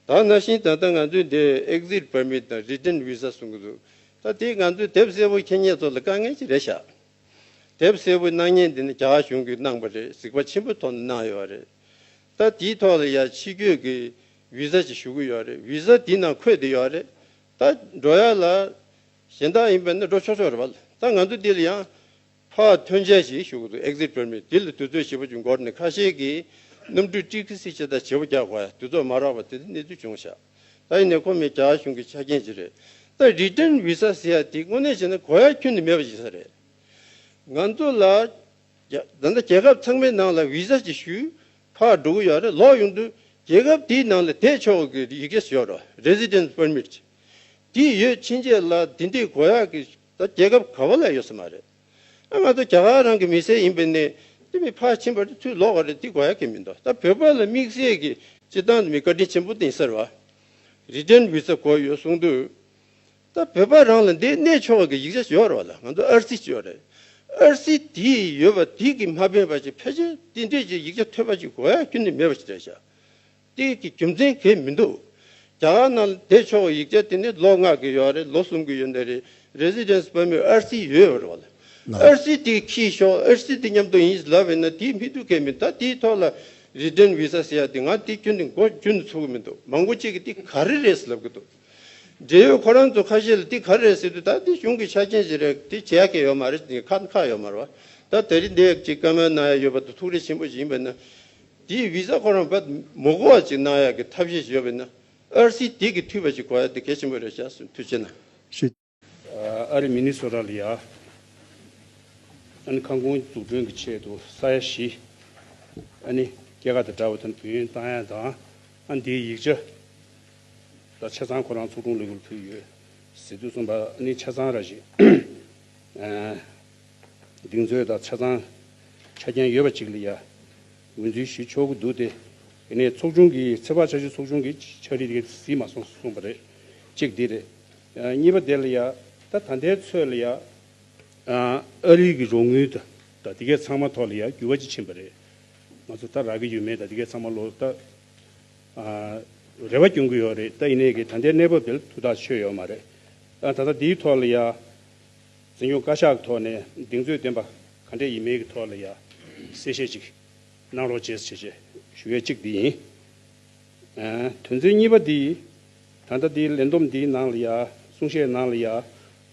ད་ན་བཞིན་ད་ལྟ་ང་ཚོས་འདིར Exit Permit དང Return Visa གསུང་གི་འདུག་ད་དེས་ང་ཚོའི་དེབ་སེར་བོ་ཁྱེད་ཉེ་ཚོ་ལ་དཀའ་ངལ་ཅིག་རེ་བཞག་དེབ་སེར་བོའི་སྣང་བརྙན་འདི་ནི་རྒྱ་གར་གཞུང་གིས་གནང་པ་རེད་གཟིགས་པ་ཆེན་པོའི་ཐོག་ནས་གནང་ཡོད་རེད་ད་དེའི་ཐོག་ལ་ཡང་ཕྱི་བསྐྱོད་ཀྱི Visa ཅིག་ཞུ་གི་ཡོད་རེད Visa དེའི་ནང་འཁོད་དེ་ཡོད་རེད་ད། འགྲོ་ཡག་ལ། གཞན་དག་ཡིན་པས་ན་འགྲོ་ཆོག་ཆོག་རེད་བ་ལ་ད་ང་ཚོ་འདི་ལ་ཡང་ཕ་ཐོན་འཆལ་ཞིག་ཞུགས་འདུག Exit Permit དེ་ལ་དུས་ཚོད་ཞིབ་པ་བྱུང་སྐོར་ནས་ཁ་ཤས་ཀྱིས་གནམ་གྲུའི་ཀྲིག་ཀི་སི་ཆེ་ད་བྱེད་པོ་རྒྱག་པ་དུས་ཚོད་མ་རག་པ་དེ་འདྲ་གནས་ཚུལ་བྱུང་ཤག་ད་ཡིན་ནས་ཁོ་མེད་རྒྱ་གཞུང་གི་ཆ་རྐྱེན་ཅི་རེད་ད Return Visa ཟེར་ཡག་དེ་དངོས་གནས་བྱས་ན་གོ་ཡག་ཁྱོན་ནས་མེད་པ་ཞིག་ས་རེད་ང་ཚོ་ལ་ད་ལྟ་རྒྱལ་ཁབ་ཚང་མའི་ནང་ལ Visa ཅིག་ཞུས་ཁག་འགྲོ་གི་ཡོད་རེད་ལོག་ཡོང་དུས་རྒྱལ་ཁབ་དེའི་ནང་ལ་བསྡད་ཆོག་གི་ཡི་གེ་ཞོར Residence Permit དེ་ཡོད་ཕྱིན་ཆད་ལ་དེ་འདྲའི་གོ་ཡག་གི་ད་རྒྱལ་ཁབ་ག་བ་ལ་ཡོད་ས་མ་རེད་ཨ་ང་ད་རྒྱ་གར་རང་གི་མི་སེར་ཡིན་པ་ནས་འདི་མི་ཕར་ཕྱིན་པ་རེད་ཐུགས་ལོག་བ་རེད་འདི་གོ་ཡ་གི་མི་འདུག་ད་བོད་པ་ལ་དམིགས་བསལ་གི་སྤྱི་བཏང་དུ་མི་བཀའ་དྲིན་ཆེན་པོ་དིང་སར་བ་རི་ཏྲན་བི་ཚ་གོ་ཡོད་གསུང་དུས་ད་བོད་པ་རང་ལ་འདི་གནས་ཆོག་གི་ཡིག་ཆ་འབྱོར་བ་ལ་ང་ཚོ་ཨར་སི་ཅོ་རེད་ཨར་སི་དི་ཡོད་པ་དི་གི་མ་ཕན་པ་ཅིག་ཕལ་ཆེར་དི་འདྲེ་ཅིག་ཡིག་ཆ་ཐོས་པ་ཅིག་གོ་ཡ་གི་ནི་མེད་པ་ཅིག་རེད་བྱ། ཏིལ་གྱི་རྒྱུ་མཚན་གས་མི་འདུག་རྒྱ་གར་ནང་ལ་དེ་ཕྱོགས་ཡིག་ཆ་དེ་ནི་ལོ་ལྔ་གི་ཡོད་རེད་ལོ་གསུམ་གི་ཡོད་འདི་རེད Residence Permit ཨར་སི་ཡོད་རེད་བ་ལ་ཨར་སི་དེ་ཁྱི་ཤོག་ཨར་སི་དེ་མཉམ་དུ་ཡིན་ལབ་ཡིན་ན་དེ་མི་འདུག་གས་མི་ད་དེའི་ཐོག་ལ Resident Visa ཟེར་ཡ་དེ་ང་དེ་ཁྱོད་དེ་མགོ་རྒྱུ་ནས་ཚུགས་གི་མི་འདུག་མང་པོ་གཅིག་གི་དེ་ག་རེ་རེད་ཟེར་ལབ་གི་འདུག་འབྲེལ་ཡོད་ཁོ་རང་ཚོ་ཁ་ཤས་ལ་དེ་ག་རེ་རེད་ཟེར་དུས་ད་དེ་གཞུང་གི་ཆ་རྐྱེན་བཞིན་རེད་དེ་བྱས་ཡ་གས་ཡོད་མ་རེད་ཁ་ཁ་ཡོད་མ་རེད་བ་ད་ད་རིང་འདི་ཅིག་ཀ་མལ་ནང་ཡ་ཡོད་པ་དུ་ཐུགས་རེ་ཆེན་པོ་ཞིག་ཡིན་པ་ན་དེའི Visa ཁོ་རང་བོད་མི་གོ་བ་ཅིག་གནང་ཡག་གི་ཐབས་ཤེས་བྱེད་ཡོད་པས་ན་ཨར་སིའི་དེ་གི་མཐུས་པ་ཅིག་གོ་ཡག་དེ་གལ་ཆེན་པོ་རེད་བྱས་སོང་མཐུས་བྱས་ན། ཤེས། ཨ་རི་མི་ནི་སོ་ར་ལི་ཡ་ཨ་ནི་ཁང་ཁུངས་འཛུགས་སྐྲུན་གི་ཆེད་དུ་ས་ཡ་བཞི་ཨ་ནི་སྐྱེ་ཁ་དང་འདྲ་བ་དང་དུས་ཡུན་གཏང་ཡག་དང་ཨ་འདིའི་ཡིག་ཆ་དང་ཆ་ཚང་ཁོ་རང་ཚོགས་དྲུང་ལས་ཁུར་ཕུལ་ཡོད་ཟེར་དུས་གསུངས་པ་ཨ་ནི་ཆ་ཚང་ར་བཞིན། གདེང་ཚོད་དང་ཆ་ཚང་ཆ་རྐྱེན་ཡོད་པ་ཅིག་ལ་ཡང་འགོད་འཛུལ་ཞུ་ཆོག་གི་འདུག་སྟེ། དེ་ནས་ཚོགས་ཆུང་གིས་ཚེ་དཔག་བྱ་ཞིང་ཚོགས་ཆུང་གི་ཕྱག་བྲིས་དེ་གཟིགས་མ་སོང་གསུངས་པ་རེད། གཅིག་འདི་རེད། གཉིས་པ་དེ་ལ་ཡང་ད་ད་ལྟའི་ཚོད་ལ་ཡང། ཨ་རིག་གི་རོགས་དངུལ་དང་ད་དེ་གའི་ཚང་མ་ཐོག་ལ་ཡང་འགྱུར་བ་ཅི་ཕྱིན་པ་རེད། ང་ཚོ་ད་རག་གི་ཡོད་མེད་ད་དེ་གའི་ཚང་མ་ལོ་ལྟ། རེ་བ་སྐྱོང་གི་ཡོད་རེད་ད་ཡིན་ནའི་གི་ད་ལྟའི་གནས་བབ་དེ་ལ་ཐུགས་ཐག་ཆོད་ཡོད་མ་རེད། ད་ལྟ་དེའི་ཐོག་ལ་ཡང། འཛིན་སྐྱོང་བཀའ་ཤག་གི་ཐོག་ནས་གདེང་ཚོད་ལྡན་པ་ག་འདྲས་ཡིན་མིན་གྱི་ཐོག་ལ་ཡང་གསལ་བཤད་ཅིག་གནང་རོགས་བྱེད་ཞེས་ཞུ་ཡས་གཅིག་འདི་ཡིན། དོན་ཚན་གཉིས་པ་འདི་ད་ལྟ་འདིའི་ལས་བསྡོམས་འདིའི་ནང་ལ་ཡང་གསུང་བཤད་ནང་ལ་ཡང་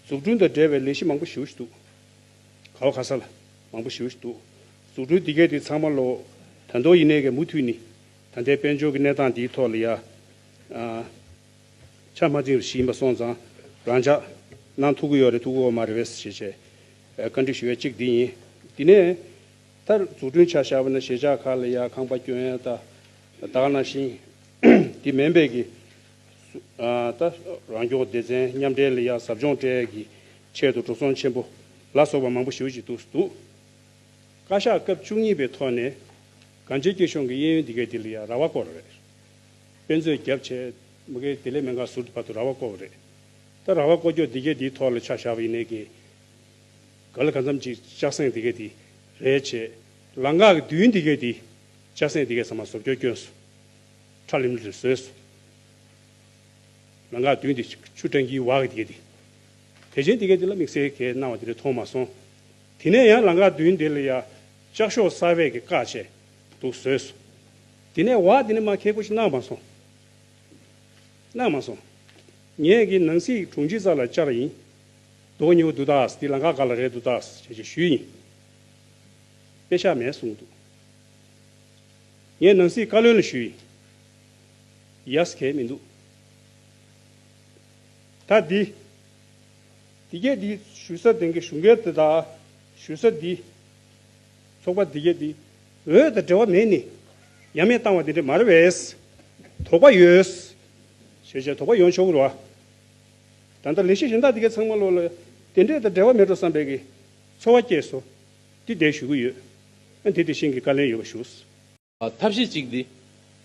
འཛུགས་སྐྲུན་དང་འབྲེལ་བའི་ལས་གཞི་མང་པོ་ཞུ་བཞིན་འདུག་ག་བ་ག་ས་ལ་མང་པོ་ཞུ་བཞིན་འདུག་འཛུགས་སྐྲུན་འདི་གས་འདི་ཚང་མ་ལོ་ད་མདོ་ཡི་གནས་གས་མུ་མཐུད་ནི་ད་ལྟའི་དཔལ་འབྱོར་གྱི་གནས་སྟངས་འདིའི་ཐོག་ལ་ཡང། ཆ་མ་འཛིན་པ་ཞིག་ཡིན་པ་སོང་ཙང་རང་ཅག་ནང་ཐུག་གི་ཡོད་རེད་ཐུག་གི་འོ་མ་རེད་བས་ཞེས་བྱས། བཀའ་འདྲི་ཞུ་བའི་གཅིག་འདི་ཡིན། དེ་ནས་མཐར་འཛུགས་སྐྲུན་བྱ་བཞག་པ་ནི་ཞེ་ཆགས་ཁག་ལ་ཡང་ཁང་པ་སྐྱོན་ཡང་ད་དག་ན་ཞིང་དེ་མེན་པའི་གི་ད་རང་སྐྱོང་སྡེ་ཚན་མཉམ་འབྲེལ་ལ་ཡང་ཟབ་སྦྱོང་སྤྲད་གི་ཆེད་དུ་འགྲོ་སོང་ཆེན་པོ་ལ་སོགས་པ་མང་པོ་ཞུ་གི་འདུག་འདུག་བཀའ་ཤག་སྐབས་བཅུ་གཉིས་པའི་ཐོག་ནས་གངས་ཅན་སྐྱིད་གཤོངས་ཀྱི་གཡས་གཡོན་འདི་གའི་འདི་ལ་ཡང་ར་བ་བསྐོར་རེད། དཔེ་མཛོད་རྒྱབ་ཆད། མི་གེ་དེ་ལས་མེ་འགག་ཟུར་དུ་བར་དུ་ར་བ་བརྐོ་བ་རེད། ད་ར་བ་བརྐོ་ཁྱོ་འདི་གེ་འདིའི་ཐོག་ལ་ཆ་བཞག་པ་ཡིན་ནའི་གེ། ག་ལ་ག་མཚམས་ཅིག་ལྕགས་སེང་འདི་གེ་འདི། རེད་བྱེད། ལ་འགག་གི་མདུན་འདི་གེ་འདི། ལྕགས་སེང་འདི་གེ་ཟ་མ་ཟོབ་ཁྱོ་བསྐྱོན་སོ། ཁྲ་ལིམ་ལིར་བཟོས་སོ། ལ་འགག་མདུན་འདི་ཆུ་སྤྲང་ཁྱིའི་བག་གི་འདི་གེ་འདི། དེ་བྱེད་འདི་གེ་འདི་ལ་དམིགས་བསལ་གེ་སྣང་བ་འདི་རེ་མཐོང་མ་སོང། དེ་ནས་ཡང་ལ་འགག་མདུན་འདི་ལ་ཡ། ལྕགས་ཤོག་གསར་བས་གེ་བཀག་བྱས་འདུག་བཟོས་སོ། དེ་ནས་བ་དེ་ནི་མ་ཁེ་ཁོ་ཤི་གནང་མ་སོང། གནང་མ་སོང། ངས་གི་ནང་སྲིད་དྲུང་ཆེ་ས་ལ་བཅར་ཡིན། འདོགས་ཉེ་བོ་འདུག་ཏགས་དེ་ལངྐ་ག་ལ་རེད་འདུག་ཏགས་བྱས་བྱས་ཞུས་ཡིན། དཔེ་ཤ་མེད་གསུངས་འདུག། ངས་ནང་སྲིད་བཀའ་བློན་ལ་ཞུས་ཡིན། ཡས་གས་མི་འདུག། ད་དེ། དེ་གས་དེ་ཞུས་ས་དེང་གི་ཞུ་འགལ་དེ་དག་ཞུས་ས་དེ། ཚོགས་པ་འདི་བརྒྱད་འདི་འོད་དང་འབྲེལ་བ་མེད་ནི། ཡ་མེད་བཏང་བ་འདི་འདྲས་མར་བས། དོགས་པ་ཡོད། ཞེས་བྱའི་དོགས་པ་ཡོང་ཆོག་གུ་རུ་བ། ད་ལྟ་ལེགས་བཤད་གཞན་དག་འདི་གའི་ཚང་མ་བློ་ལ་དེ་འདྲས་དང་འབྲེལ་བ་མེད་འགྲོ་བསམ་པའི་གི་ཚོར་བ་སྐྱེས་སོ། འདི་བསྡད་ཞུ་གི་ཡོད། ཨ་འདི་དེ་བཞིན་གི་བཀའ་ལན་ཡོད་པ་ཞུ། ཐབས་ཤེས་གཅིག་འདི།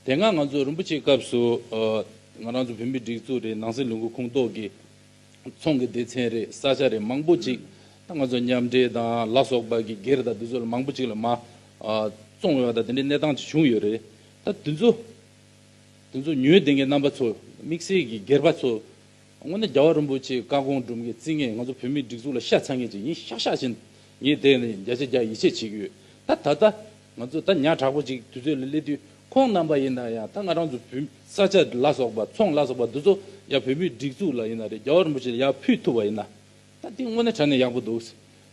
དེ་སྔ་ང་ཚོ་རིན་པོ་ཆེའི་སྐབས་སུ། ང་རང་ཚོ་བོད་མིའི་སྒྲིག་འཛུགས་རེད་ནང་སྲིད་ལུང་ཁུག་ཁུངས་གཏོགས་ཀྱི། ཚོང་གི་སྡེ་ཚན་རེད་ས་ཆ་རེད་མང་པོ་གཅིག། ད་ང་ཚོ་མཉམ་འབྲེལ་དང་ལ་སོགས་པ་གིས་སྒེར་དང་དེ་ཚོ་ལ་མང་པོ་གཅིག་ལ་མ། བཙོང་ཡོད་པ་དང་དེ་འདྲའི་གནས་སྟངས་གཅིག་བྱུང་ཡོད་རེད། ད་དེ་ཚོ། དེ་ཚོ་ཉོས་དེ་གའི་རྣམ་པ་ཚོ་དམིགས་བསལ་གྱི་སྒེར་པ་ཚོ། དངོས་ནས་རྒྱ་བ་རིན་པོ་ཆེའི་བཀའ་དགོངས་སྒྲུབ་མཁན་རྩིས་མཁན་ང་ཚོ་བོད་མིའི་སྒྲིག་འཛུགས་ལ་ཤ་ཚ་མཁན་གཅིག་ཡིན་ཤག་ཤག་བྱེད། ངས་དེ་ནི་བརྒྱ་ཆ་བརྒྱ་ཡིད་ཆེས་བྱེད་ཀྱི་ཡོད། ད་ད་ལྟ། ང་ཚོ་ད་ཉག་དྲག་པོ་ཅིག་དུས་ཚོད་ལ་སླེབས་དུས་ཁོང་རྣམ་པ་ཡིན་ན་ཡང་ད་ང་རང་ཚོ་བོད་མི་ས་ཆ་ལ་སོགས་པ་ཚོང་ལ་སོགས་པ་འདི་ཚོ་ཡང་བོད་མིའི་སྒྲིག་འཛུགས་ལ་ཡིན་ན་རེད་རྒྱ་བོ་རིན་པོ་ཆེ་ལ་ཡང་ཕུལ་ཐུབ་པ་ཡིན་ན་ད་དེ་དངོས་གནས་དྲ་ནས་ཡག་པོ་འདུག་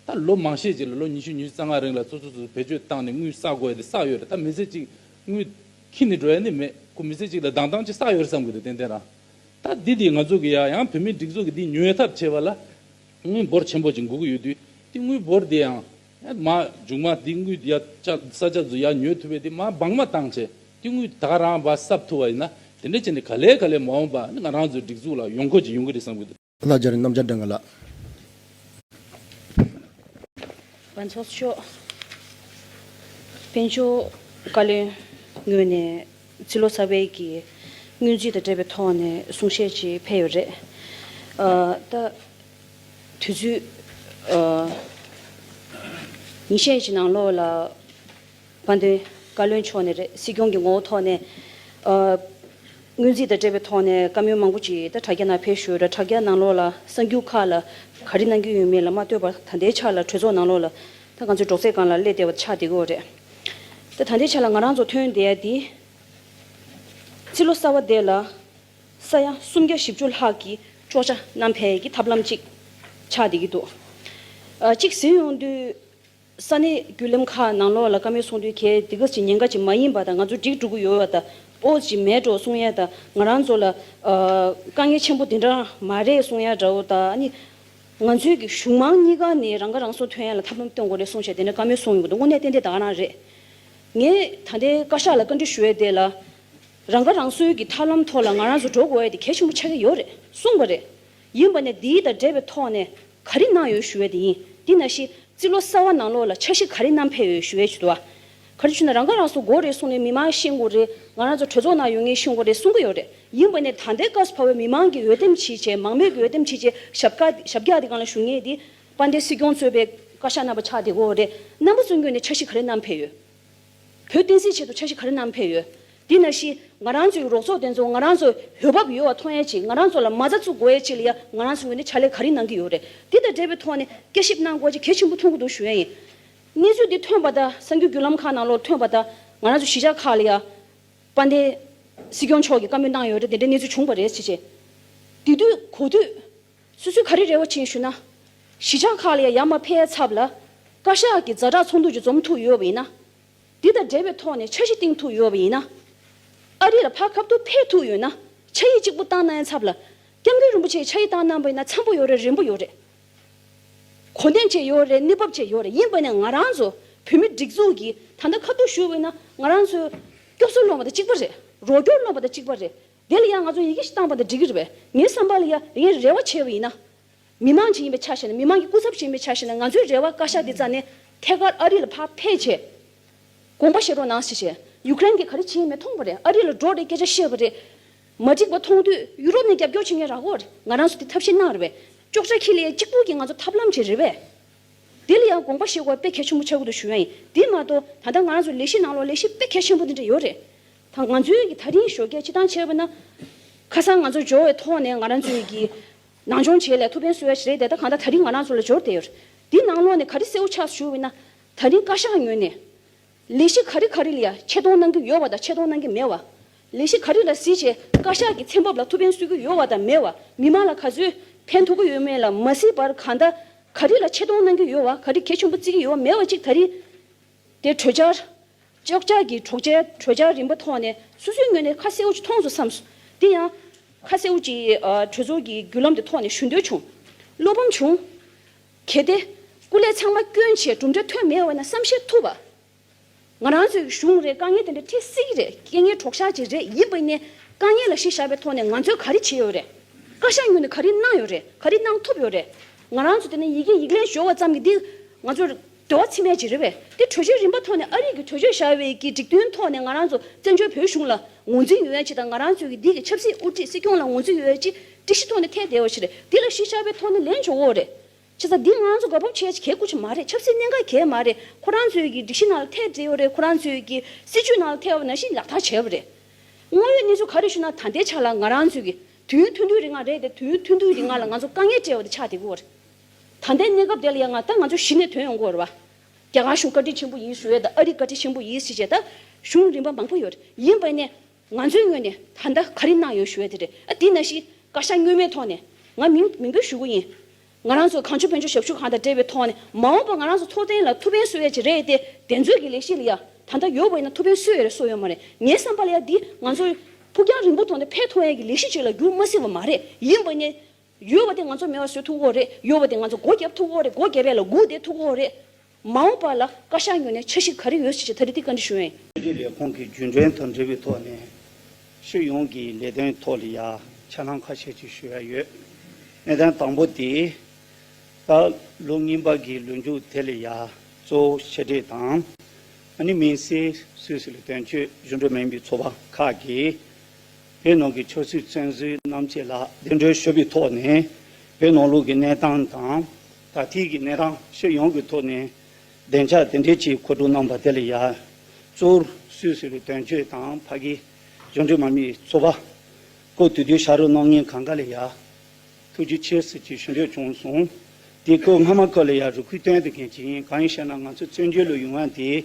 ད་ལོ་མང་ཤས་ཅིག་ལ་ལོ་ཉི་ཤུ་ཉི་ཤུ་རྩ་ལྔ་རིང་ལ་ཚོ་ཚོ་ཚོ་བེད་སྤྱོད་བཏང་ནས་དངུལ་བསགས་དགོས་ཡ་དེ་བསགས་ཡོད་རེད་ད་མི་ཚེ་གཅིག་དངུལ་ཁྱི་ནས་འགྲོ་ཡ་ནི་མེད་ཁོ་མི་ཚེ་གཅིག་ལ་སྡང་སྡང་ཅིག་བསགས་ཡོད་རེད་བསམ་གི་འདུག་ཏན་ཏན་རང་ད་འདི་འདི་ང་ཚོ་གི་ཡ་ཡང་བོད་མིའི་སྒྲིག་འཛུགས་ཀྱི་འདི་ཉོས་ཐབས་བྱས་པ་ལ་དངུལ་འབོར་ཆེན་པོ་ཅིག་འགུག་གི་ཡོད་དུས་དེ་དངུལ་འབོར་འདི་ཡང། མ་རྒྱུག་མ་དེའི་དངུལ་དེ་ཡ་ས་ཆ་ཟུ་ཡ་ཉོས་ཐུབ་པས་དེ་མ་སྦང་མ་བཏང་བྱས་དེ་དངུལ་ད་རང་བ་སབ་ཐུབ་བ་ཡིན་ན་དེ་འདྲ་བྱས་ནས་ག་ལེ་ག་ལེ་མ་འོངས་པ་ང་རང་ཚོའི་སྒྲིག་འཛུགས་ལ་ཡོང་ཁོ་ཅིག་ཡོང་གི་རེད་བསམ་གི་འདུག། ལ་སྦྱར་རྣམ་སྦྱར་འདྲ་འགའ་ལགས། བ་འཚོགས་ཤོག། དཔོན་ཆོས་བཀའ་བློན་ངོས་ནས་ཚི་ལོ་ཚ་བས་ཀྱི་དངུལ་རྫི་དང་འབྲེལ་བའི་ཐོག་ནས་གསུང་བཤད་ཅིག་ཕེལ་ཡོད་རེད། ད། དུས་ཚོད་ཉི་ཤས་ཀྱི་ནང་ལོགས་ལ་དཔལ་ལྡན་བཀའ་བློན་མཆོག་ནས་སྲིད་སྐྱོང་གི་ངོ་བོ་ཐོག་ནས་སྔོན་རྩིས་དང་འབྲེལ་བའི་ཐོག་ནས་བཀའ་མོལ་མང་པོ་ཅིག་ད་དྲ་རྒྱ་ནང་ཕེབས་ཞོར་དྲ་རྒྱ་ནང་ལོགས་ལ་གསར་འགྱུར་ཁག་ལ་ག་རེ་གནང་གི་ཡོད་མེད་ལ་མ་ལྟོས་པར་ད་ལྟའི་ཆར་ལ་གྲོས་ཚོགས་ནང་ལོགས་ལ་ད་ག་ཚོད་སྒྲོག་ཙེ་གང་ལ་སླེབས་བསྡད་པ་ཆགས་བསྡད་ཀྱི་འོག་རེད། ད་ད་ལྟའི་ཆར་ལ་ང་རང་ཚོ་ཐོན་བསྡད་དེ་ཕྱི་ལོ་གསར་བ་དེ་ལ་ས་ཡ་སུམ་བརྒྱ་བཞི་བཅུ་ལྷག་གི་ཅོག་ཆ་རྣམས་འཕེལ་གྱི་ཐབས་ལམ་ཅིག་ཆགས་བསྡད་ཀྱི་འདུག་གཅིག་ཟིན་ཡོང་དུས། ས་གནས་བརྒྱུད་ལམ་ཁག་ནང་ལོགས་ལ་བཀའ་མོལ་གསུང་དུས་གལ་ཏེ་གི་ཟིན་ཉེན་ཁ་ཅིག་མ་ཡིན་པ་དང་ང་ཚོ་སྒྲིག་འགྲོ་གི་ཡོད་བ་དང་པོ་ཅིག་མེད་འགྲོ་གསུང་ཡ་དང་ང་རང་ཚོ་ལ་དཀའ་ངལ་ཆེན་པོ་དེ་འདྲ་མ་རེད་གསུང་ཡ་འདྲ་བོ་དང་ནི། ང་ཚོའི་གི་གཞུང་མང་གཉིས་ཀ་ནས་རང་ཁ་རང་གསོ་ཐོན་ཡ་ལ་ཐབས་ལམ་སྟོན་དགོས་རེད་གསུང་བྱས་དེ་འདྲ་བཀའ་མོལ་གསུང་ཡོང་གི་འདུག་དངོས་གནས་ཏན་ཏན་དག་རང་རེད། ངས་ད་ལྟའི་བཀའ་ཤག་ལ་བཀའ་འདྲི་ཞུ་ཡ་དེ་ལ། རང་ཁ་རང་གསོའི་གི་ཐབས་ལམ་ཐོག་ལ་ང་རང་ཚོ་འགྲོ་དགོས་ཡ་དེ་གལ་ཆེན་པོ་ཆགས་ཀྱི་ཡོད་རེད་གསུངས་པ་རེད། ཡིན་པ་ནས་འདིའི་དང་འབྲེལ་བའི་ཐོག་ནས་ག་རེ་གནང་ཡོད་ཞུ་བའི་དེ་ཡིན་འདི་ན་ཤི་ཙི་ལོ་སར་བ་ནང་ལོགས་ལ་ཆ་གཞི་ག་རེ་གནང་ཕེབས་ཡོད་ཞུ་བའི་ཆུ་དོ། ག་རེ་ཆུ་ན་རང་ཁ་རང་གསོ་དགོས་རེད་གསུངས་ནས་མི་མང་ཤེས་དགོས་རེད་ང་རང་ཚོ་གྲོས་ཚོགས་ནང་ཡོད་ངེས་གསུངས་པ་རེད་གསུངས་ཀྱི་ཡོད་རེད་ཡིན་པ་ནས་ད་ལྟའི་སྐབས་སུ་བར་བའི་མི་མང་གི་འོས་འདེམས་ཕྱིས་བྱས་མང་མོས་ཀྱི་འོས་འདེམས་ཕྱིས་བྱས་ཞབས་བཀའ་ཞབས་རྒྱག་དེ་གང་ལ་ཞུ་ངེས་དེ་དཔལ་ལྡན་སྲིད་སྐྱོང་གཙོས་པའི་བཀའ་ཤག་རྣམ་པ་ཆགས་བསྡད་དགོས་རེད་རྣམ་པ་གཙོ་འགྱུར་ནས་ཆ་གཞི་ག་རེ་གནང་ཕེབས་ཡོད། བོད་བསྟན་སྲིད་ཆེད་དུ་འཆར་གཞི་ག་རེ་བསྣམས་ཕེབས་ཡོད། དེ་ན་ཤི། ང་རང་ཚོའི་རོགས་ཚོགས་དེ་ཚོ་ང་རང་ཚོ་ཡོད་བབ་ཡོད་བ་མཐོང་ཡས་ཆེད་ང་རང་ཚོ་ལ་མ་རྩ་བཙུགས་དགོས་ཡས་ཆེད་ལ་ཡ་ང་རང་ཚོའི་ངོས་ནས་ཕྱག་ལས་ག་རེ་གནང་གི་ཡོད་རེད་དེ་དང་འབྲེལ་བའི་ཐོག་ནས་དཔྱད་ཞིབ་གནང་དགོས་ཆེད་གལ་ཆེན་པོ་མཐོང་གི་འདུག་ཞུ་ཡས་ཡིན། གནས་ཚུལ་འདི་ཐོན་པ་དང་གསར་འགྱུར་བརྒྱུད་ལམ་ཁག་ནང་ལོར་ཐོན་པ་དང་ང་རང་ཚོའི་གཞིས་ཆགས་ཁག་ལ་ཡ། དཔལ་ལྡན། སྲིད་སྐྱོང་མཆོག་གིས་བཀའ་མོལ་གནང་ཡོད་རེད་དེ་འདྲའི་གནས་ཚུལ་བྱུང་བ་རེད་ཆེད། དེ་དུས་གོ་དུས། སུ་སུས་ག་རེ་རེ་བ་བྱས་ཞུ་ན། གཞིས་ཆགས་ཁག་ལ་ཡང་ཡ་མ་ཕའི་ཚབ་ལ། བཀའ་ཤག་གི་མཛའ་གྲགས་ཚོགས་འདུ་ཅིག་འཛོམས་ཐུབ་ཡོད་པ་ཡིན་ན། འདི་དང་འབྲེལ་བའི་ཐོག་ནས་འཆར་གཞི་བཏིང་ཐུབ་ཡོད་པ་ཡིན་ན། ཨ་རི་ལ་ཕ་ཁབ་ཏུ་ཕེབས་ཐུབ་ཡོད་ན་ཕྱག་ཡིག་གཅིག་པུ་བཏང་ན་ཡང་འཚབ་ལ། སྐྱབས་མགོན་རིན་པོ་ཆེའི་ཕྱག་ཡིག་བཏང་གནང་བ་ཡིན་ན་འཚམ་པོ་ཡོད་རེད་རན་པོ་ཡོད་རེད། གོ་བདེན་བྱས་ཡོད་རེད་གནས་བབ་བྱས་ཡོད་རེད་ཡིན་པ་ནས་ང་རང་ཚོ་བོད་མི་སྒྲིག་འཛུགས་ཀྱིས་ད་ལྟ་ཁ་ཐུག་ཞུ་བ་ཡིན་ན་ང་རང་ཚོའི་སྐྱོབ་གསོ་སློང་བ་དང་གཅིག་པ་རེད་རོགས་སྐྱོར་སློང་བ་དང་གཅིག་པ་རེད། དེ་ལ་ཡང་ང་ཚོ་ཡི་གེ་ཞིག་བཏང་བ་འདི་འགྲིག་གི་རེད་པས། ངའི་བསམ་པ་ལ་ཡ་ངའི་རེ་བ་ཆེ་བ་ཡིན་ན། མི་མང་ཅིག་ཡིན་པའི་ཆ་ཞིག་ནས་མི་མང་གི་སྐུ་ཚབ་ཅིག་ཡིན་པའི་ཆ་ཞིག་ནས་ང་ཚོའི་རེ་བ་བཀའ་ཤག་འདི་རྩ་ནས་ཐད་ཀར་ཨ་རི་ལ་ཕར་ཕེབས་ཆེད། དགོངས་པ་བཞེས་རོགས་གནང་ཞེས་བཤད། ཡུ་ཀེ་རེན་གྱིས་ག་རེ་བྱེད་ཡིན་མེད་མཐོང་བ་རེད་ཨ་རི་ལ་འགྲོ་རེད་སྐད་ཆ་བཤད་པ་རེད། མ་འགྲིག་པ་མཐོང་དུས་ཡུ་རོབ་ནས་རྒྱབ་སྐྱོར་བྱེད་མཁན་རག་གོ། ང་རང་ཚོ་དེ་ཐབས་ཤེས་གནང་རེད་པས། ཅོག་ཅག་ཁྱི་ལ་ཡ་གཅིག་པུ་གྱིས་ང་ཚོ་ཐབས་ལམ་བྱེད་རེད་པས། དེ་ལ་ཡང་དགོངས་པ་བཞེས་དགོས་པ་དཔེ་གལ་ཆེན་པོ་འཆར་གི་འདུག་ཞུ་ཡ་ཡིན་དེ་མ་གཏོགས་ད་ལྟ་ང་རང་ཚོ་ལས་གཞི་ནང་ལོགས་ལས་གཞི་དཔེ་གལ་ཆེན་པོ་འདི་འདྲ་ཡོད་རེད། དང་ང་ཚོའི་ད་རིང་ཞོ་སྐྱེས་ཕྱི་ཐང་ཆེ་བ་ན། ཁ་སང་ང་ཚོ་འབྱོར་བའི་ཐོག་ནས་ང་རང་ཚོའི་གི། ནང་སྦྱོང་བྱེད་ལས་ཐུགས་ཕན་གསོས་ཡ་ཞིག་རེད་དེ་ད་གང་ལྟར་ད་རིང་ང་རང་ཚོ་ལ་འབྱོར་བསྡད་ཡོད། དེ་ནང་ལོགས་ནས་ག་རེ་སེའུ་ཆགས་སུ་ཞུ་བས་ན། ད་རིང་བཀའ་ཤག་ངོས་ནས། ལས་གཞི་ག་རེ་ག་རེ་ལ་ཡ་ཆེད་གཏོང་གནང་གི་ཡོད་བ་དང་ཆེད་གཏོང་གནང་གི་མེད་བ། ལས་གཞི་ག་རེ་ལ་གཟི་བྱས་བཀའ་ཤག་གི་ཚན་འབབ་ལ་ཐུགས་ཕན་གསོས་ཀྱི་ཡོད་བ་དང་མེད་བ་མི་མང་ལ་ག་ཚོད་ཕན་ཐོགས་ཀྱི་ཡོད་མེད་ལ་མ་གཟིགས་པར་གང་ལྟར་ག་རེ་ལ་ཆེད་གཏོང་གནང་གི་ཡོད་བ་ག་རེ་གལ་ཆེན་པོ་བརྩི་གི་ཡོད་བ་མེད་བ་གཅིག་ད་རིང། དེ་གྲོས་འཆར། ཅོག་ཆར་གྱི་གྲོགས་ཅན་གྲོས་འཆར་རིམ་པ་ཐོག་ནས་སོ་སོའི་ངོས་ནས་ཁ་གསལ་བོ་ཅིག་མཐོང་སོང་བསམས། དེ་ཡང། ཁ་གསལ་བོ་ཅིག་གྲོས་ཚོགས་ཀྱི་བརྒྱུད་ལམ་དེ་ཐོག་ནས་ཞུ་འདོད་བྱུང། བློ་ཕམ་བྱུང། གལ་ཏེ། སྐུ་ལས་ཚང་མ་སྐྱོན་ཆེ་གྲུབ་འབྲས་ཐོན་མེད་འོ་ན་བསམ་བཞེས་ཐུབ་བ། ང་རང་ཚོའི་གཞུང་རེད་དཀའ་ངལ་དེ་འདྲ་འཕྲད་སྲིད་ཀྱི་རེད་རྐྱེན་ངན་གྲོགས་ཤ་ཅིག་རེད་ཡིན་པ་ནས་དཀའ་ངལ་ལ་ཤེས་བཞག་པའི་ཐོག་ནས་ང་ཚོས་ག་རེ་བྱས་ཡོད་རེད། བཀའ་ཤག་ངོས་ནས་ག་རེ་གནང་ཡོད་རེད་ག་རེ་གནང་ཐུབ་ཡོད་རེད། ང་རང་ཚོ་དེ་ནས་ཡི་གེ་ཡིག་ལན་ཞོར་བ་ཙམ་གྱིས་འདི་ང་ཚོ། འགྲོ་བ་ཚིག་མེད་ཅིག་རེད་བས་དེ་གྲོས་ཆོད་རིམ་པ་ཐོག་ནས་ཨ་རིག་གི་གྲོས་ཆོད་བཞག་བས་ཀྱི་འགྲིག་མཐུན་ཐོག་ནས་ང་རང་ཚོ་བཙན་བྱོལ་བོད་གཞུང་ལ་ངོ་འཛིན་ཡོད་ཅིག་དང་ང་རང་ཚོའི་གི་འདི་གི་ཆབ་སྲིད་དབུ་ཁྲིད་སྲིད་སྐྱོང་ལ་ངོ་འཛིན་ཡོད་ཅིག་སྒྲིག་གཞི་ཐོག་ནས་ཐད་བསྡད་བ་ཞིག་རེད་འདི་ལ་གཞི་ཆགས་པའི་ཐོག་ནས་ལན་བྱོ་འོ་རེད། ཆ་ཚང་འདི་ང་ཚོ་དགའ་སྤོབས་བྱས་ཅིག་གས་དགོས་ཆེ་མ་རེད་ཆབ་སྲིད་གནད་འགག་གས་མ་རེད་ཁོ་རང་ཚོའི་གི་སྒྲིག་གཞི་ནང་ལ་ཐད་བསྡད་ཡོད་རེད་ཁོ་རང་ཚོའི་གི་སྲིད་བྱུས་ནང་ལ་ཐད་བ་ན་བཞིན་ལག་བསྟར་བྱས་བ་རེད། དངོས་ཡོད་གནས་ཚུལ་ག་རེ་བྱུང་ན་ད་ལྟའི་ཆ་ལ་ང་རང་ཚོའི་གི་དུས་ཡུན་ཐུང་ཐུང་རིང་ང་རེད་དེ་དུས་ཡུན་ཐུང་ཐུང་རིང་ང་ལ་ང་ཚོ་དཀའ་ངལ་བྲལ་བ་དེ་ཆགས་བསྡད་དགོས་བ་རེད། ད་ལྟའི་གནས་སྐབས་དེ་ལ་ཡང་ང་ལྟར་ང་ཚོ་གཞི་ནས་དོན་ཡོང་དགོས་རེད་བ། རྒྱ་གར་གཞུང་བཀའ་དྲིན་ཆེན་པོ་ཡིན་ཟེར་བས་དང་ཨ་རི་བཀའ་དྲིན་ཆེན་པོ་ཡིན་ཟེར་བྱས་ད་གཞུང་རིམ་པ་མང་པོ་ཡོད་རེད་ཡིན་བས་ནས་ང་ཚོའི་ངོས་ནས་ད་ལྟ་ག་རེ་གནང་ཡོད་ཞུ་བས་དེ་རེད་ཨ་དེས་ན་ཤི་བཀའ་ཤག་བསྙོན་མེད་ཐོག་ནས་ང་མིང་མིང་འབོད་ཞུ་གི་ཡིན། ང་རང་ཚོ་གངས་ཆུ་བོན་ཆུ་ཞབས་ཞུ་ཁང་དང་འབྲེལ་བའི་ཐོག་ནས་མ་འོངས་པ་ང་རང་ཚོ་ཚོགས་ཐེངས་ལ་ཐུགས་ཕན་གསོས་ཡ་ཆེ་རེད་དེ་དེ་ཚོས་ཀྱི་ལས་གཞི་ལ་ཡ་ད་ལྟ་ཡོད་བས་ན་ཐུགས་ཕན་གསོས་ཡ་རེད་གསོས་ཡོད་མ་རེད་ངའི་བསམ་པ་ལ་ཡ་འདི་ང་ཚོའི་ཕུགས་རྒྱང་རིང་པོ་ཐོག་ནས་ཕན་ཐོགས་ཡ་གི་ལས་གཞི་ཅིག་ལ་འགྱུར་མ་སྲིད་བ་མ་རེད་ཡིན་བས་ནས་ཡོད་བ་དེ་ང་ཚོར་མེད་བ་སུས་ཐུགས་འཁོར་རེད་ཡོད་བ་དེ་ང་ཚོ་སྒོ་རྒྱབ་ཐུགས་འཁོར་རེད་སྒོ་རྒྱབ་པའི་ལ་སྒུག་བསྡད་ཐུགས་འཁོར་རེད། མ་འོངས་པ་ལ་བཀའ་ཤག་ཉོ་ནས་འཆར་གཞི་ག་རེ་ཡོད་ཞིག་ཅེས་ད་རེ་ཐིག་བཀའ་འདྲི་ཞུ་ཡོད། ཕྱི་དྲིལ་ལས་ཁུངས་ཀྱི་བརྒྱུད་འདྲེན་དང་འབྲེལ་བའི་ཐོག་ནས། ཕྱི་ཡོངས་ཀྱི་ལས་དོན་ཐོག་ལ་ཡང་ཆ་ལང་ཁ་ཤས་ཅིག་ཞུ་ཡ་ཡོད། གནད་དོན་དང་པོ་དེ། ད་ལོ་རྔན་པ་གི་ལོ་མཇུག་དེ་ལ་ཡང་གཙོ་བོ་ཕྱི་དྲིལ་དང། ཨ་ནི་མིན་སིའི་སུད་སི་ལ་དོན་གཅོད་གཞུང་འབྲེལ་མིན་པའི་ཚོགས་པ་ཁག་གིས། བོད་ནང་གི་ཆོས་སྲིད་བཙོན་ཟུར་རྣམས་བཅས་ལ་བདེན་འགྲོའི་ཤོད་པའི་ཐོག་ནས་བོད་ནང་ལུགས་ཀྱི་གནས་སྟངས་དང་ད་ཐིག་གི་གནས་སྟངས་ཕྱིར་ཡོང་གི་ཐོག་ནས་བདེན་ཆ་དེ་འདྲས་ཀྱིས་མཁོ་སྤྲོད་གནང་པ་དེ་ལ་ཡ་བཙོར་སུས་ཟེར་བའི་དོན་བརྗོད་དང་ཕ་གི་གཞུང་འབྲེལ་མ་མི་ཚོ་པ་ཀོ་དུས་དུས་ཤ་རུ་གནང་ཉེན་གང་ག་ལ་ཡ་ཐུགས་རྗེ་ཆེ་ཟེར་གྱི་ཞུ་འདོད་བྱུང་སོང་དེ་ཀོ་སྔ་མ་ཀ་ལ་ཡ་རུ་ཁུལ་སྟོན་དུ་གན་གྱི་ཡིན་གང་ཡིན་ཤེ་ན་ང་ཚོ་བཙོན་འཇུག་ལུ་ཡུང་བ་དེ་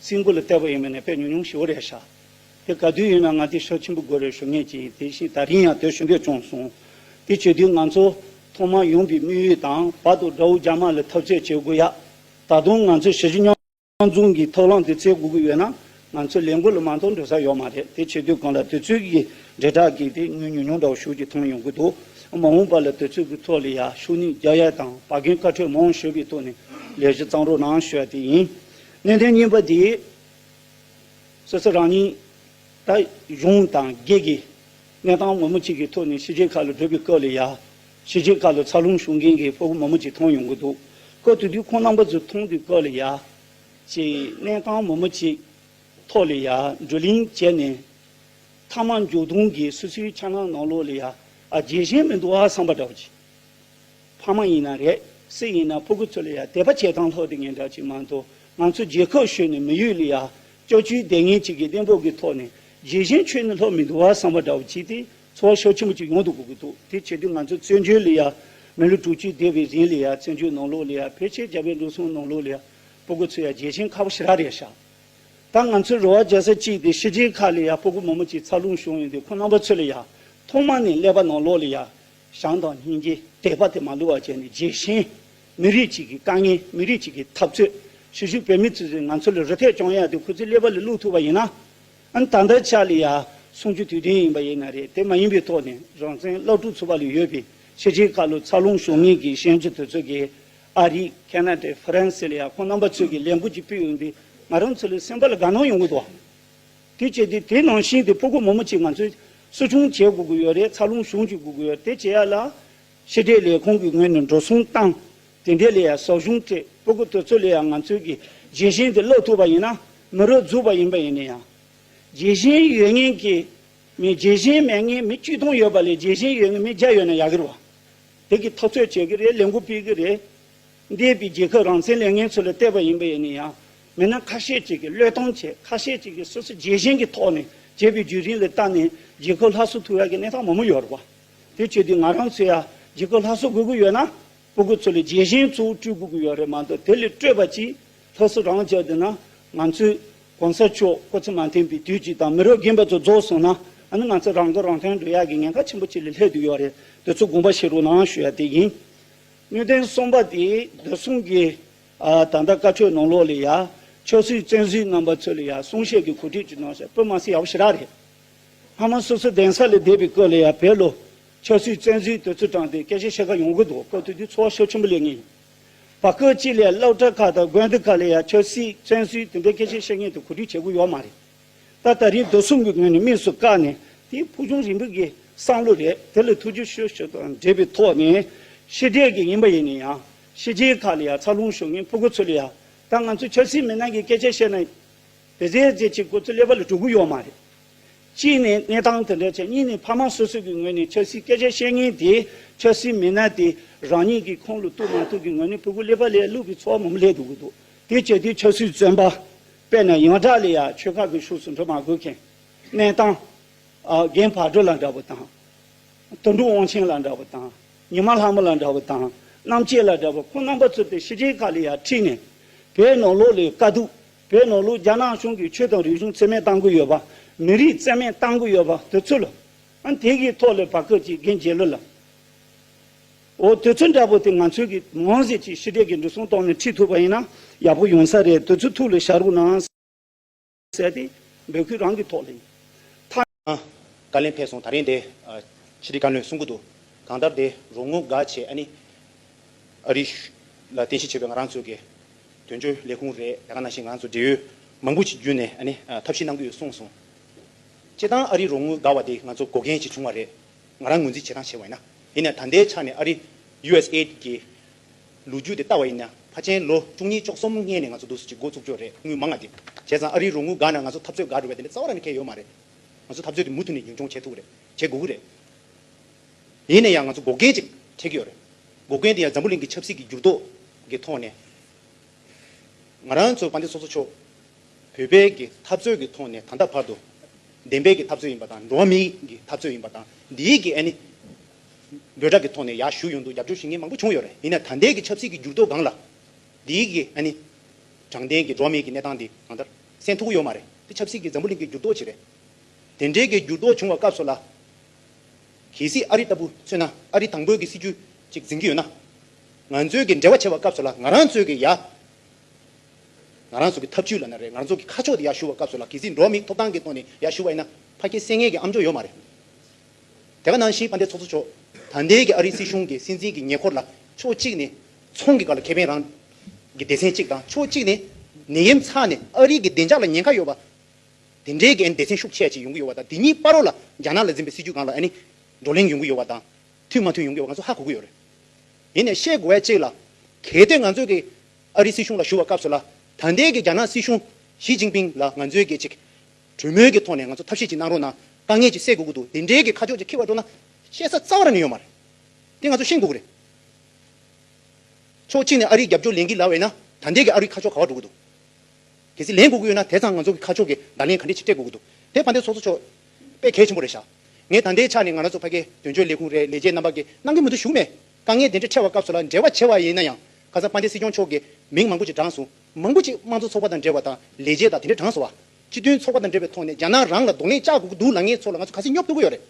སྲིན་མགོ་ལ་བལྟས་པ་ཡིན་མིན་ནི་དཔེ་ཉུང་ཉུང་ཞིག་འོ་རེ་ཤག། དེ་ག་དུས་ཡིན་ན་ང་དེ་ཤོག་ཆེན་པོ་དགོས་རེ་ཞུ་ངེས་ཀྱི་ཡིན་དེ་བཞིན་ད་རིང་ཡང་དོལ་ཞུ་འདོད་བྱུང་སོང། དེ་བྱོས་དུས་ང་ཚོ་ཐོག་མར་ཡོང་པའི་དམིགས་ཡུལ་དང་བར་དུ་དགྲ་བོ་རྒྱ་དམར་ལ་འཐབ་རྩོད་བྱེད་དགོས་ཡ། ད་དུང་ང་ཚོས་ཞི་བཞི་མཉམ་འཛོམས་ཀྱི་ཐབས་ལམ་དེ་བཙལ་དགོས་ཀྱི་ཡོད་ན་ང་ཚོ་ལས་འགུལ་ལ་མ་འཐོར་འགྲོ་ས་ཡོད་མ་རེད་དེ་བྱེད་དུས་གང་ལ་དུས་ཚོད་ཀྱི་འབྲེལ་དྲག་གིས་དེ་ཉོས་ཉོས་ཉོས་འདྲ་བོ་ཞུ་རྒྱུ་ཐོན་ཡོང་གི་འདུག་མ་འོངས་པ་ལ་དུས་ཚོད་ཀྱི་ཐོག་ལ་ཡ་ཤུ་ནི་རྒྱ་ཡལ་དང་བ་གན་བཀའ་ཁྲོལ་མང་ཤོས་པའི་ཐོག་ནས་ལས་གཞི་གཙང་རོགས་གནང་ཞུ་བ་དེ་ཡིན། གནད་དོན་གཉིས་པ་དེ། སོ་སོ་རང་ཉིད་ད་གཞུང་དང་སྒེར་གྱི་གནས་སྟངས་མང་པོ་གཅིག་གི་ཐོག་ནས་ཕྱི་རྒྱལ་ཁག་ལ་བགྲོད་པའི་སྐབས་ལ་ཡང། ཕྱི་རྒྱལ་ཁག་ལ་འཚར་ལོངས་བྱུང་མཁན་གྱི་ཕོ་བོ་མང་པོ་ཅིག་མཐོང་ཡོང་གི་འདུག་སྐབས་དེ་དུས་ཁོང་རྣམ་པ་ཚོ་མཐོང་དུས་སྐབས་ལ་ཡང། ཅེས་གནས་སྟངས་མང་པོ་ཅིག་ཐོག་ལ་ཡང་བགྲོ་གླེང་བྱས་ནས། མཐའ་མ་མཇུག་སྡོམ་གྱི་སོ་སོའི་འཆར་སྣང་ནང་ལོགས་ལ་ཡང་ཨ་རྒྱས་གཞན་མི་འདུག་ཨ་བསམ་པ་འདྲ་བོ་ཅིག་ཕ་མ་ཡིན་ན་རེད་སྲིད་ཡིན་ན་ཕོ་རྒུ་ཚོ་ལ་ཡ་དད་པ་བྱེད་སྟངས་ལྷོད་དེ་ངན་གྲགས་ཅིག་མ་མདོང་ང་ཚོ་རྗེ་ཁོག་ཤོད་ནས་མི་ཡུལ་ལ་ཡ་ཅོ་ཅོའི་དད་ངན་ཅིག་གི་གཏན་ཕོག་གི་ཐོག་ནས་རྗེ་གཞན་ཆོས་ནི་ལྷོད་མི་འདུག་བ་བསམ་བ་འདྲ་བོ་བྱས་ཏེ་འཚོ་བ་ཤོ་ཆེན་པོ་ཅིག་ཡོང་དུ་གོ་གི་འདུག་དེ་བྱེད་དུས་ང་ཚོ་བཙན་བྱོལ་ལ་ཡ་མི་ལོ་དྲུག་ཅུ་འདས་པའི་རིང་ལ་ཡ་བཙན་བྱོལ་ནང་ལོགས་ལ་ཡ་ཕལ་ཆེར་རྒྱ་བལ་འགྲོ་སོང་ནང་ལོགས་ལ་ཡ་ཕོ་རྒུ་ཚོ་ཡ་རྗེ་གཞན་ཁ་བ་ཞི་རག་རེད་ཤག་ད་ང་ཚོའི་རོ་བ་རྒྱག་ས་ཅིག་དེ་ཤི་རྗེས་ཁག་ལ་ཡ་ཕོ་རྒུ་མོ་མོ་ཅིག་འཚར་ལོངས་བྱུང་ཡོང་དུས་ཁོ་རྣམ་པ་ཚོ་ལ་ཡ་ཐོག་མ་ནས་ཀླད་པ་ནང་ལོགས་ལ་ཡ་ཞང་དང་སྙིང་རྗེ་དད་པ་དེ་མ་ལུས་པར་བྱས་ནས་རྒྱལ་ཞེན། མི་རིགས་གཅིག་གི་དཀའ་ངལ་མི་རིགས་གཅིག་གི་འཐབ་རྩོད་ཞུ་ཞུ་བོད་མི་ཚོས་ཚོས་ང་ཚོ་ལ་རུ་ཐད་གྱོང་ཡ་དེ་ཁོ་ཚོའི་ཀླད་པ་ལ་བླུགས་ཐུབ་པ་ཡིན་ན། ད་ལྟ་ཆགས་ལི་ཡ་སོང་རྒྱུ་དུས་བདེན་ཡིན་པ་ཡིན་ན་རེད་དེ་མ་ཡིན་པའི་ཐོག་ནས་རང་བཙན་སློབ་ཕྲུག་ཚོ་བ་ལུ་ཡོད་པའི་ཤེས་བྱའི་ཁ་ལོ་ཚ་ལུང་ཞོ་ངེས་ཀྱི་ཤན་ཆུ་དོད་ཚོད་ཀྱི་ཨ་རི་ཁེ་ན་ཏའི་ཧྥི་རན་སི་ལི་ཡ་ཁོང་རྣམ་པ་ཚོས་ཀྱི་ལས་འགུལ་གྱི་དཔེ་ཡིན་པའི་ང་རང་ཚོ་ལ་སེམས་པ་ལ་དགའ་སྣང་ཡོང་གི་འདུག་བ། དེ་བྱས་ཏེ་དེ་ནང་བཞིན་དེ་ཕོ་རྒོད་མོ་མོ་གཅིག་ང་ཚོས་གསོ་སྐྱོང་བྱེད་དགོས་ཀྱི་ཡོད་རེད་ཚ་རླུང་གཞུང་གཅིག་དགོས་ཀྱི་ཡོད་དེ་བྱེད་ཡ་ལ། ཤེས་འབྲས་ལས་ཁུངས་ཀྱི་ངོས་ནས་འགྲོ་སོང་བཏང། དེ་འདྲས་ལས་ཡ་ཟོག་གཞུང་སྤྲད་ཕོ་རྒོད་དེ་ཚོ་ལས་ཡ་ང་ཚོས་ཀྱི་རྗེས་གཞན་དེ་སློག་ཐུབ་པ་ཡིན་ན་མི་རོ་རྫུགས་པ་ཡིན་པ་ཡིན་ནི་ཡང། རྗེས་གཞན་ཡོད་ངེས་ཀྱི་མི་རྗེས་གཞན་མེད་ངེས་མི་བཅུ་སྟོང་ཡོད་པ་ལས་རྗེས་གཞན་ཡོད་ངེས་མི་བརྒྱ་ཡོད་ན་ཡག་གི་རེད་བ། དེ་གི་ཐག་གཅོད་བྱེད་ཀྱི་རེད་ལས་འགུལ་སྤེལ་གྱི་རེད། འདས་པའི་རྒྱལ་ཁབ་རང་བཙན་ལས་ངན་ཚོ་ལ་བལྟས་པ་ཡིན་པ་ཡིན་ནི་ཡང། མི་སྣ་ཁ་ཤས་ཅིག་གིས་བློས་གཏོང་བྱས་ཁ་ཤས་ཅིག་གིས་སོ་སོའི་རྒྱལ་ཞེན་གྱི་ཐོག་ནས་བྱས་པའི་བརྒྱུད་རིམ་ལ་བརྟགས་ནས་རྒྱལ་ཁོལ་ལྷ་གསོལ་ཐུག་ཡ་གི་གནས་སྟངས་མང་མོ་ཡོད་རེད་བ། དེ་བྱས་དུས་ང་རང་ཚོས་ཡ་རྒྱལ་ཁོལ་ལྷ་གསོལ་དགོས་ཀྱི་ཡོད་ན་སྤུ་གུ་ཚོ་ལས་རྒྱལ་ཞེན་གཙོ་བོ་སྤྲུལ་དགོས་ཀྱི་ཡོད་རེད་མ་གཏོགས་དེ་ལས་སྤྲོས་པ་ཅིག་ལྷ་གསོལ་རང་བྱས་བསྡད་ན་ང་ཚོས་གོང་ས་མཆོག་སྐུ་ཚེ་མ་འཐེན་པའི་དུས་ཅིག་དང་མི་རབས་རྒན་པ་ཚོ་རྫོགས་སོང་ན་ཨ་ནི་ང་ཚོ་རང་དགར་རང་ཐོན་འགྲོ་ཡ་གི་ཉེན་ཁ་ཆེན་པོ་ཅིག་ལས་ལྷད་དུ་ཡོད་རེད་དེ་ཚོ་དགོངས་པ་བཞེས་རོགས་གནང་ཞུ་ཡ་དེ་ཡིན། སྣོད་ལྡན་གསུམ་པ་དེ་བདེ་སྲུང་གི། ད་ལྟ་བཀའ་ཆོས་ནང་ལོགས་ལས་ཡ། ཆོས་སྲིད་བཙན་གཟིགས་རྣམ་པ་ཚོས་ལས་ཡ་གསུང་བཤད་ཀྱི་གོ་སྒྲིག་ཅིག་གནང་ཞེས་པོད་དམག་སྲི་ཡ་བོ་ཞི་རག་རེད། སྔ་མོ་སོ་སོའི་གདན་ས་ལས་འདས་པའི་སྐབས་ལས་ཡ་བེད་ལོ། ཆོས་སྲིད་བཙན་གཟིགས་དེ་ཚོས་དྲངས་ཏེ་སྐད་ཆ་བཤད་ཁ་ཡོང་གི་འདུག་སྐབས་དེ་དུས་ཚོ་བ་ཤོ་ཆེན་པོ་ལས་ངེས་ཡིན། བ་སྐབས་གཅིག་ལས་སློབ་གྲྭ་ཁག་དང་དགོན་སྡེ་ཁག་ལས་ཡ་ཆོས་སྲིད་བཙན་གཟིགས་དེ་འདྲའི་སྐད་ཆ་བཤད་མཁན་དེ་གོ་སྒྲིག་བྱེད་དགོས་ཡོད་མ་རེད། ད་ལྟ་རིགས་དོ་གསུམ་གྱི་ངོས་ནས་དམིགས་སུ་བཀར་ནས་དེ་ཕུགས་རྒྱང་རིང་པོ་གི་བསམ་བློ་རེད་དེ་ལ་ཐུགས་རྗེ་ཆེ་ཞུ་དང་འབྲེལ་པའི་ཐོག་ནས་ཤེས་འདྲེས་ཀྱི་ཡིན་པ་ཡིན་ན་ཡང། ཤེས་བྱའི་ཁ་ལ་ཡང་ཚ་ལྷུང་ཞུགས་ངེས་ཕོ་རྒོད་ཚོ་ལ་ཡང་ད་ང་ཚོ་ཆབ་སྲིད་མི་སྣ་གི་སྐད་ཆ་བཤད་ན་བེ་ཙེ་ཙེ་བྱེད་དགོས་ཚུལ་ཀླད་པ་ལ་གྲུག་གི་ཡོད་མ་རེད། གཅིག་ནས་གནས་སྟངས་དེ་འདྲ་བྱས་གཉིས་ནས་ཕ་མ་སོ་སོ་གི་ངོས་ནས་ཆབ་སྲིད་སྐད་ཆ་བཤད་ངེས་དེ་ཆབ་སྲིད་མི་སྣ་དེ་རང་ཉིད་ཀྱི་ཁོང་ལ་གཏུག་མ་གཏུག་གི་ངོས་ནས་ཕོ་རྒོད་ཀླད་པ་ལས་བསླུ་བའི་ཚོགས་མང་པོ་ལས་འདུག་གི་འདུག་དེ་བྱས་དུས་ཆབ་སྲིད་བཙོན་པ་དཔེ་ན་ཡང་དག་ལ་ཡང་ཆོལ་ཁ་གི་ཤུགས་སུ་འགྲོ་མ་དགོས་མཁན། གནས་སྟངས། རྒན་བག་གྲོ་ལ་འདྲ་བོ་དང། དུད་འགྲོ་དབང་ཆེན་ལ་འདྲ་བ་དང། ཉི་མ་ལྷ་མོ་ལ་འདྲ་བ་དང། གནམ་ལྕེ་ལ་འདྲ་བ་ཁོང་རྣམ་པ་ཚུད་པའི་ཤི་རྗེས་ཀ་ལི་ཡ་ཁྲིད་ནས། བོད་ནོར་ལུག་ལས་དཀའ་སྡུག། བོད་ནོར་ལུག་རྒྱ་ནག་གཞུང་གིས་ཆོས་དང་རིག་གཞུང་འཚེ་མེད་གཏང་གི་ཡོད་པ། མི་རིགས་བཙན་མེད་གཏང་གི་ཡོད་པ་དེ་ཚོ་ལ། ཨང་དེ་གའི་ཐོག་ལས་བག་སྐད་ཅིག་རྒན་རྒྱལ་ལོ་ལགས། འོ་དེ་ཚོ་འདྲ་བོ་དེ་ང་ཚོས་གིས་མང་ཟས་ཀྱིས་ཤི་རྗེས་ཀྱི་འགྲོ་སོང་གཏོང་ནས་ཁྲིད་ཐུབ་པ་ཡིན་ན་ཡག་པོ་ཡོང་ས་རེད་དེ་ཚོ་ཐུགས་ལ་ཞྭ་རུག་ན། བསལ་ཏེ། འདོད་ཁུལ་རང་གི་ཐོག་ལེན། མཐའ། བཀའ་ལན་ཕེབས་སོང་ད་རེས་འདི། ཕྱི་དྲིལ་བཀའ་བློན་གསུང་སྐུ་འདུག། གང་ལྟར་དེ་རུ་ངོ་དགའ་བྱེད་ཨ་ནི། ཨ་རི། ལ་རྟེན་གཞི་བྱས་པའི་ང་རང་ཚོའི་གི། དོན་གཅོད་ལས་ཁུངས་རེད་ད་ག་ནང་བཞིན་ང་རང་ཚོ་འབྲེལ་ཡོད་མང་པོ་ཞིག་བརྒྱུད་ནས་ཨ་ནི། ཐབས་ཤེས་གནང་གི་ཡོད་གསུངས་སོང། སྤྱིར་བཏང་ཨ་རི་རུ་ངོ་དགའ་བ་དེ་ང་ཚོ་འགོག་མཁན་ཞིག་བྱུང་བ་རེད། ང་རང་ངོས་འཛིན་བྱེད་སྟངས་བྱས་བ་ཡིན་ན། དེ་ནས་ད་ལྟའི་ཆ་ནས་ཨ་རི། USAID། གི། ལོ་རྒྱུས་དེ་ལྟ་བ་ཡིན་ན་ཕ་ཆེན་ལོ་བཅུ་གཉིས་ཅོག་གསུམ་སྔན་ནས་ང་ཚོ་འདུག་ཟེར་གྱི་འགོ་བཙུགས་ཆོག་རེད་དངུལ་མང་ང་དེབྱས་ཙང་ཨ་རིའི་རོགས་དངུལ་འགའ་ན་ང་ཚོ་འཐབ་རྩོད་འགའ་འགྲོ་བའི་དེ་འདྲའི་རྩ་བ་ར་ནས་ཁེལ་ཡོད་མ་རེད་ང་ཚོ་འཐབ་རྩོད་དེ་མུ་མཐུད་ནས་རྒྱུན་འཁྱོངས་བྱེད་ཐུབ་རེད་བྱེད་དགོས་ཀྱི་རེད། ཡིན་ན་ཡང་ང་ཚོ་འགོག་རྐྱེན་ཅིག་འཕྲད་ཀྱི་ཡོད་རེད་འགོག་རྐྱེན་དེ་ཡང་འཛམ་བུ་གླིང་གི་ཆབ་སྲིད་ཀྱི་འགྱུར་ལྡོག་གི་ཐོག་ནས་ང་རང་ཚོ་དཔའ་མཐིལ་སོ་སོ་ཕྱོགས་བོད་པའི་གི་འཐབ་རྩོད་ཀྱི་ཐོག་ནས་ད་ལྟ་བར་དུ་བདེན་པའི་གི་འཐབ་རྩོད་ཡིན་པ་དང་འགྲོ་བ་མིའི་གི་འཐབ་རྩོད་ཡིན་པ་དང་འདིའི་གི་ཨ་ནི་འབོད་སྒྲ་གི་ཐོག་ནས་ཡག་ཞུ་ཡོང་འདུག་རྒྱབ་སྐྱོར་ཞུ་མཁན་མང་པོ་བྱུང་ཡོད་རེད་ཡིན་ན་ད་ལྟའི་གི་ཆབ་སྲིད་གི་འགྱུར་ལྡོག་སྒང་ལ། འདིའི་གི་ཨ་ནི། དྲང་བདེན་གི་འགྲོ་མེད་གི་གནས་སྟངས་འདི་གང་ལྟར། སེམས་ཐུག་གི་ཡོད་མ་རེད་དེ་ཆབ་སྲིད་གི་འཛམ་བུ་གླིང་གི་འགྱུར་ལྡོག་ཅིག་རེད། དེ་འདྲའི་གི་འགྱུར་ལྡོག་བྱུང་བ་སྐབས་སུ་ལ། གལ་སྲིད་ཨ་རི་ལྟ་བུ་མཚོན་ན་ཨ་རི་དང་པོའི་གི་སྲིད་བྱུས་ཅིག་འཛིན་གི་ཡོད་ན། ང་ཚོའི་གི་འབྲེལ་བ་བྱེད་པ་སྐབས་སུ་ལ་ང་རང་ཚོའི་གི་ཡ། ང་རང་ཚོ་གི་ཐབས་བྱུས་ལ་ན་རེ་ང་རང་ཚོ་གི་ཁ་ཕྱོགས་དེ་ཡག་ཞུ་བ་སྐབས་སུ་ལ་གལ་སྲིད་འགྲོ་མེད་ཐོབ་ཐང་གི་ཐོག་ནས་ཡག་ཞུ་བ་ཡིན་ན་ཕ་སྐད་སེ་ངལ་གི་ཨམ་ཅོག་ཡོད་མ་རེད། དེ་ག་ནང་བཞིན་དཔའ་འདས་ཚོགས་གཙོ་མཆོག་དང་འདས་ཀྱི་ཨ་རིའི་སྲིད་གཞུང་གི་སྲིད་འཛིན་གྱི་ཉེ་འཁོར་ལ་ཕྱོགས་གཅིག་ནས་ཚོང་གི་བཀའ་ལ་ཁེ་ཕན་རང་གི་སྡེ་ཚན་གཅིག་དང་ཕྱོགས་གཅིག་ནས་ནད་ཡམས་ཚ་ནས་ཨ་རིའི་གི་བདེ་འཇགས་ལ་ཉེན་ཁ་ཡོད་པ་དེ་འདྲའི་གི་སྡེ་ཚན་ཤུགས་ཆེ་ཞིག་ཡོང་གི་ཡོད་པ་དང་དེ་ཉིད་སྤར་རོགས་ལ་རྒྱ་ནག་ལ་འཛིན་པའི་སྲིད་ཇུས་གང་ལ་ཨ་ནི་བགྲོ་གླེང་ཡོང་གི་ཡོད་པ་དང་མཐུན་མ་མཐུན་ཡོང་གི་ཡོད་པ་ང་ཚོ་ཧ་གོ་གི་ཡོད་རེད། ཡིན་ནས་ཤེས་དགོས་བས་གཅིག་ལ་གལ་ཏེ་ང་ཚོས་གི་ཨ་རིའི་སྲིད་གཞུང་ལ་ཞུ་བ་སྐབས་སུ་ལ་དང་འདས་ཀྱི་རྒྱ་ནག་སྲིད་གཞུང་ཞི་ཅིང་ཕིང་ལ་ང་ཚོས་གི་ཅིག་གྲོས་མོལ་གྱི་ཐོག་ནས་ང་ཚོ་ཐབས་ཤེས་ཅིག་གནང་རོགས་གནང། དཀའ་ངལ་ཅིག་སེལ་དགོས་ཀྱི་འདུག་དེ་འབྲེལ་གྱི་ཁ་ཕྱོགས་ཅིག་འཁྱེར་བར་སྤྲོ་ན། བཤད་ས་རྩ་བ་ནས་ཡོད་མ་རེད། དེ་ང་ཚོ་ཤེས་དགོས་ཀྱི་རེད། ཕྱོགས་གཅིག་ནས་ཨ་རིའི་རྒྱབ་སྐྱོར་ལེན་གྱི་ལ་བས་ན་ད་འདས་ཀྱི་ཨ་རུའི་ཁ་ཕྱོགས་ག་བར་འགྲོ་གི་འདུག། གལ་སྲིད་ལེན་དགོས་ཀྱི་ཡོད་ན་དེ་ཚང་ང་ཚོ་གི་ཁ་ཕྱོགས་ཀྱི་བརྡ་ལན་ག་འདྲས་ཅིག་སྤྲད་དགོས་ཀྱི་འདུག་དེ་ཕ་འདས་ཚོགས་གཙོ་མཆོག་དཔེ་གལ་ཆེན་པོ་རེད་ཤག། ངས་ད་འདས་ཆགས་ནས་ང་ར་ཚོ་ཕ་སྐད་དོན་གཅོད་ལས་ཁུངས་རའི་ལས་བྱེད་རྣམ་པ་གིས་གནང་གི་མི་འདུག་ཞུགས་མེད། དཀའ་ངལ་དེ་འདྲས་འཕྲད་བ་སྐབས་སུ་ལ་འབྲེལ་བ་བྱས་བ་ཡིན་ན་ཡང་ཁ་སང་ཕ་འདས་སྲིད་སྐྱོང་མཆོག་གིས་མིང་མང་པོ་ཅིག་བགྲངས་སོང། མང་པོ་ཞིག་དམངས་གཙོ་ཚོགས་པ་དང་འབྲེལ་བ་དང་ལས་བྱེད་དང་དེ་འདྲའི་གྲངས་སུ་བ། སྤྱི་མཐུན་ཚོགས་པ་དང་འབྲེལ་བའི་ཐོག་ནས་རྒྱ་ནག་རང་ལ་རྡུང་ལེན་བཅག་དགོས་ཀྱི་འདུག་ལ་ངའི་ཚོ་ལ་ང་ཚོ་ག་སྲིད་སྙོབ་དགོས་ཀྱི་ཡོད་རེད་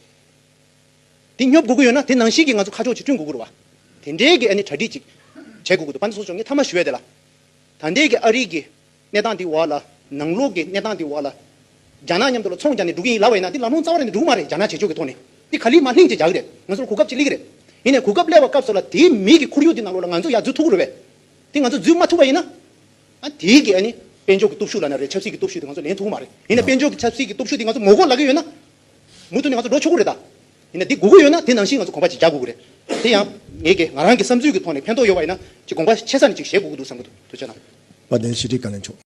དེ་སྙོབ་དགོས་ཀྱི་ཡོད་ན་དེ་ནང་བཞིན་གྱི་ང་ཚོ་ཁ་ཕྱོགས་ཅིག་བསྐྲུན་དགོས་ཀྱི་རུ་བ། དེ་འབྲེལ་གྱི་ཨ་ནི་གྲ་སྒྲིག་ཅིག་བྱེད་དགོས་ཀྱི་འདུག་བ་འདི་སོགས་ཆོག་ངས་མཐའ་མ་ཞུ་ཡ་དེ་ལ། ད་ལྟའི་གི་ཨ་རིག་གི་གནས་སྟངས་དེ་བ་ལ་ནང་ལོག་གི་གནས་སྟངས་དེ་བ་ལ། རྒྱ་ནག་མཉམ་དུ་ལ་ཚོང་རྒྱག་ནས་འགྲོ་གི་ཡིན་ལ་བ་ཡིན་ན་དེ་ལམ་ལྷོང་རྩ་བ་རེད་ནས་འགྲོ་གི་མ་རེད་རྒྱ་ནག་བྱེད་ཕྱོགས་ཀྱི་ཐོག་ནས་དེ་ག་ལི་མ་ལྷིང་ཅིག་རྒྱག་གི་རེད་ང་ཚོ་ལ་གོ་སྐབས་ཅིག་སླེ་གི་རེད་ཡིན་ནས་གོ་སྐབས་སླེ་བ་སྐབས་སོགས་ལ་དེའི་མིག་གི་ཁོར་ཡུག་དེ་ནང་ལོག་ལ་ང་ཚོ་ཡར་འཛུལ་ཐུབ་ཀྱི་རུ་བས། དེ་ང་ཚོ་འཛུལ་མ་ཐུབ་པ་ཡིན་ན། དེའི་གེགས་ནི་དཔལ་འབྱོར་གྱི་སྟོབས་ཤུགས་ལ་ན་རེ་ཆབ་སྲིད་ཀྱི་སྟོབས་ཤུགས་དེ་ང་ཚོ་ལེན་ཐུབ་ཀྱི་མ་རེད། ཡིན་ནའི་དཔལ་འབྱོར་གྱི་ཆབ་སྲིད་ཀྱི་སྟོབས་ཤུགས་དེ་ང་ཚོ་ངོ་རྒོལ་ལག་གི་ཡོད་ན། མུ་མཐུད་ནས་ང་ཚོ་འགྲོ་ཆོག་གི་རེད་ད། ཡིན་ནའི་དེ་དགོས་ཀྱི་ཡོད་ན་དེ་ནང་བཞིན་ང་ཚོ་གོམ་པ་གཅིག་རྒྱག་དགོས་ཀྱི་རེད། དེ་ཡང། ངའི་གེགས་ང་རང་གི་བསམ་ཚུལ་གྱི་ཐོག་ནས་ཕན་ཐོགས་ཡོད་པ་ཡིན་ན། གཅིག་གོམ་པ་ཆེ་ས་ནས་གཅིག་བཞེས་དགོས་ཀྱི་འདུག་བསམ་གྱི་འདུག་དོན་ཆེ་ན། བ་དན་ཞི་བདེའི་བཀའ་ལན་ཆོག།